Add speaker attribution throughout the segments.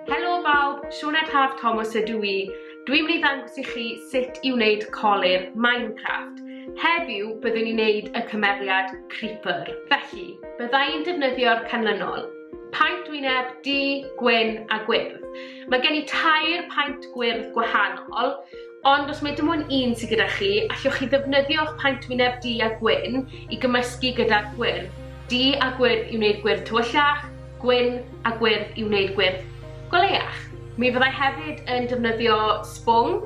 Speaker 1: Helo bawb, Sioned Haf Thomas ydw i. Dwi'n mynd i ddangos i chi sut i wneud colir Minecraft. Heddiw, byddwn i'n neud y cymeriad Creeper. Felly, bydda i'n defnyddio'r canlynol. Paent wyneb, du, gwyn a gwyrdd. Mae gen i tair paent gwyrdd gwahanol, Ond os mae dim ond un sydd gyda chi, allwch chi ddefnyddio eich paent wyneb du a gwyn i gymysgu gyda'r gwyrdd. Du a gwyrdd i wneud gwyrdd tywyllach, gwyn a gwyrdd i wneud gwyrdd goleuach. Mi fyddai hefyd yn defnyddio sbwng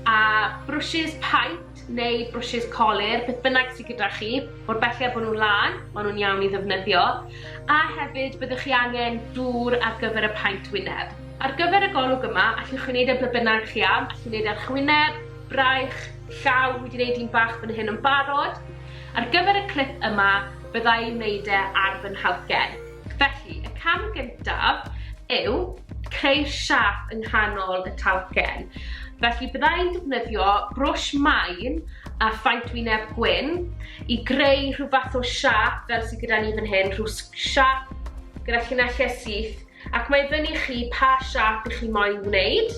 Speaker 1: a brwshys paent neu brwshys colur, beth bynnag sydd gyda chi, mor belled bod nhw'n lân, maen nhw'n iawn i ddefnyddio, a hefyd byddwch chi angen dŵr ar gyfer y paent wyneb. Ar gyfer y golwg yma, allwch chi wneud e ble bynnag chi am, allwch chi wneud e ar chwyneb, braich, llaw, wedi wneud un bach fan hyn yn barod. Ar gyfer y clip yma, byddai wneud e ar fy nhalcen. Felly, y cam gyntaf yw creu'r siâp yng nghanol y talcen. Felly bydda i'n defnyddio brwsh main a phaent wyneb gwyn i greu rhyw fath o siâp fel sydd gyda ni fan hyn, rhyw siâp gyda llinellau syth, ac mae fyny chi pa siâp i chi moyn wneud.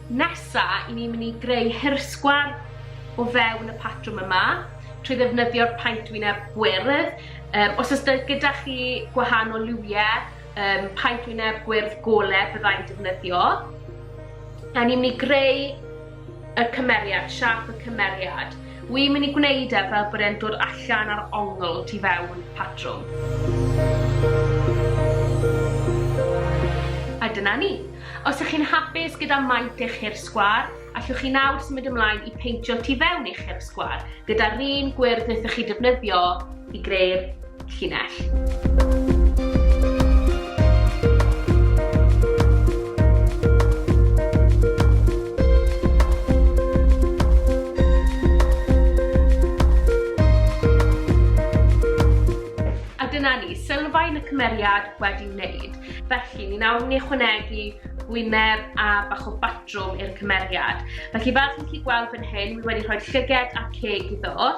Speaker 1: Nesa, i ni'n mynd i greu hirsgwar o fewn y patrwm yma, trwy ddefnyddio'r paent wyneb gwyrdd. Um, os ys gyda chi gwahanol liwiau um, paent wyneb gwyrdd gole byddai'n defnyddio. A ni'n mynd i greu y cymeriad, siap y cymeriad. Wy'n mynd i gwneud e fel bod e'n dod allan ar ongl tu fewn patrwm. A dyna ni. Os ych chi'n hapus gyda maint eich hir sgwâr, allwch chi nawr symud ymlaen i peintio tu fewn i'ch hir sgwâr gyda'r un gwyrdd wnaethoch chi defnyddio i greu'r llinell. Dyna ni, sylfaen y cymeriad wedi wneud. Felly, mi wnawn ni ychwanegu gwyneb a bach o batrwm i'r cymeriad. Felly, fel chi'n chi gweld fan hyn, mi wedi rhoi llyged a ceg iddo.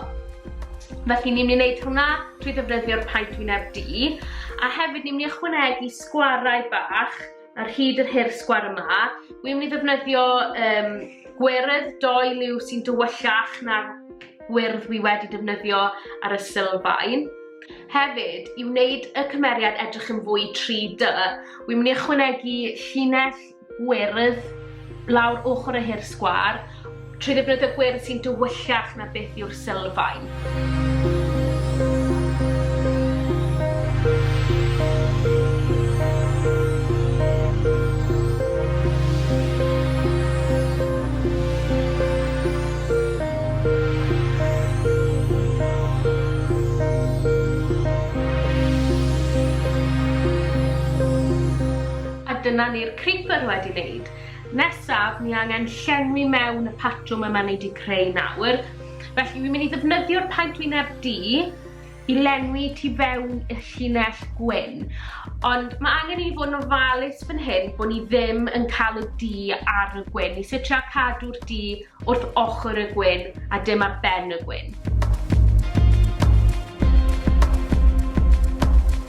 Speaker 1: Felly, ni'n mynd i wneud hwnna trwy ddefnyddio'r paent wyneb di. A hefyd, ni'n mynd i ychwanegu sgwarau bach ar hyd yr hir sgwar yma. Wi'n mynd i ddefnyddio um, gweredd doi liw sy'n dywyllach na'r gwyrdd wi wedi defnyddio ar y sylfaen. Hefyd, i wneud y cymeriad edrych yn fwy 3D, wi'n mynd i ychwanegu llinell gwyrdd lawr ochr y hir sgwar trwy ddefnyddio gwyrdd sy'n dywyllach na beth yw'r sylfaen. A dyna ni'r creeper wedi neud. Nesaf, ni angen llenwi mewn y patrwm yma ni di creu nawr. Felly, fi'n mynd i ddefnyddio'r paent wyneb du, i lenwi tu fewn i'r llinell gwyn, ond mae angen i ni fod yn ofalus fan hyn bod ni ddim yn cael y du ar y gwyn. Ni sy'n trio cadw'r du wrth ochr y gwyn a dim ar ben y gwyn.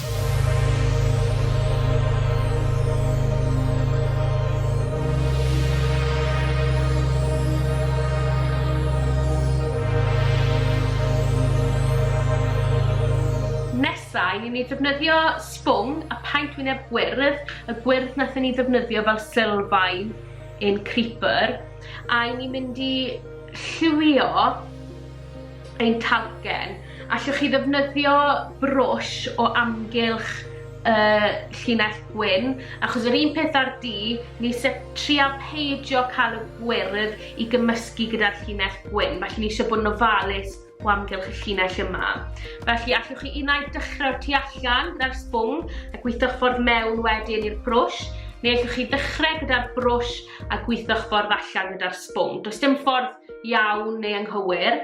Speaker 1: Nesa i ni ddefnyddio sbwng a paent wyneb gwyrdd, y gwyrdd nathon ni ddefnyddio fel sylfaen in Creeper, a i ni mynd i lliwio ein talcen. Allwch chi ddefnyddio brwsh o amgylch y llinell gwyn, achos yr un peth â'r du, ni eisiau trial peidio cael y gwyrdd i gymysgu gyda'r llinell gwyn, felly ni eisiau bod yn ofalus o amgylch y llinell yma. Felly allwch chi unau dechrau tu allan gyda'r sbwng a gweithio'ch ffordd mewn wedyn i'r brwsh, neu allwch chi ddechrau gyda'r brwsh a gweithio'ch ffordd allan gyda'r sbwng. Does dim ffordd iawn neu anghywir.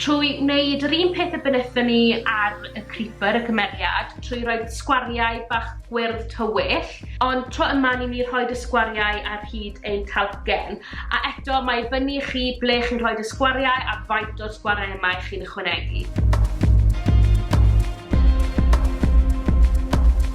Speaker 1: Trwy wneud yr un peth y bynnethon ni ar y creeper, y cymeriad, trwy roi sgwariau bach gwyrdd tywyll, ond tro yma ni'n mynd i rhoi y sgwariau ar hyd ein talcen. A eto, mae i fyny i chi ble chi'n rhoi y sgwariau a faint o'r sgwariau yma i chi'n ychwanegu.